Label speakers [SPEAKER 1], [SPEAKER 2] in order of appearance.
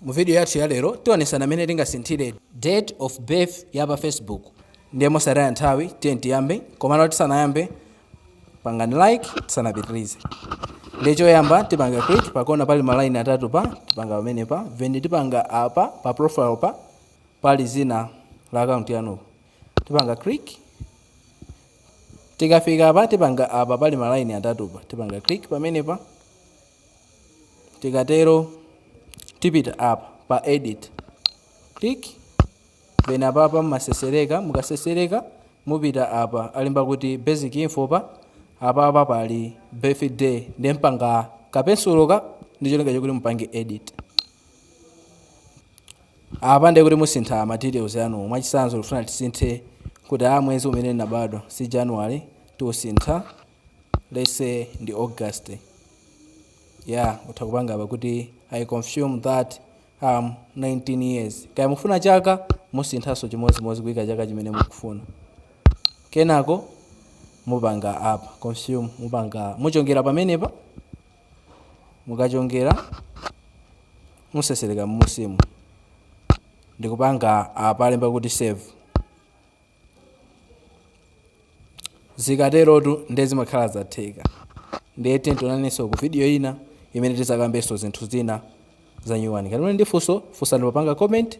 [SPEAKER 1] Mu video yathu ya lero tionesana mene tingasinthire date of birth ya pa Facebook ndiye mosataya nthawi tiyeni tiyambe komano tisanayambe pangani like tisanapitirize ndiye choyamba tipanga click pakona pali ma line atatu pa tipanga pamene pa then tipanga apa pa profile pa pali zina la account yanu tipanga click tikafika apa tipanga apa pali ma line atatu pa tipanga click pamene pa tikatero tipita apa pa edit click then apapa mumasesereka mukasesereka mupita apa alemba kuti basic info pa apapa pali birthday ndiye mpanga kapensuloka ndi cholinga chokuti mupange edit apa ndiye kuti musintha ma details anu mwachisanzo ndikufuna ndisinthe kuti a mwezi umene ndinabadwa si january tiusintha let's say ndi august yeah utha kupanga apa kuti i confirm that I'm 19 years kaya mufuna chaka musinthanso chimodzimodzi kuyika chaka chimene mukufuna kenako mupanga apa confirm mupanga muchongera pamenepa mukachongera musesereka mmusimu ndikupanga apalemba kuti save zikaterotu nde zimakhala zatheka ndiye tiyeni tionanenso ku video ina imene tizakambenso zinthu zina za nyuwani ngati muli ndi funso funsani popanga comment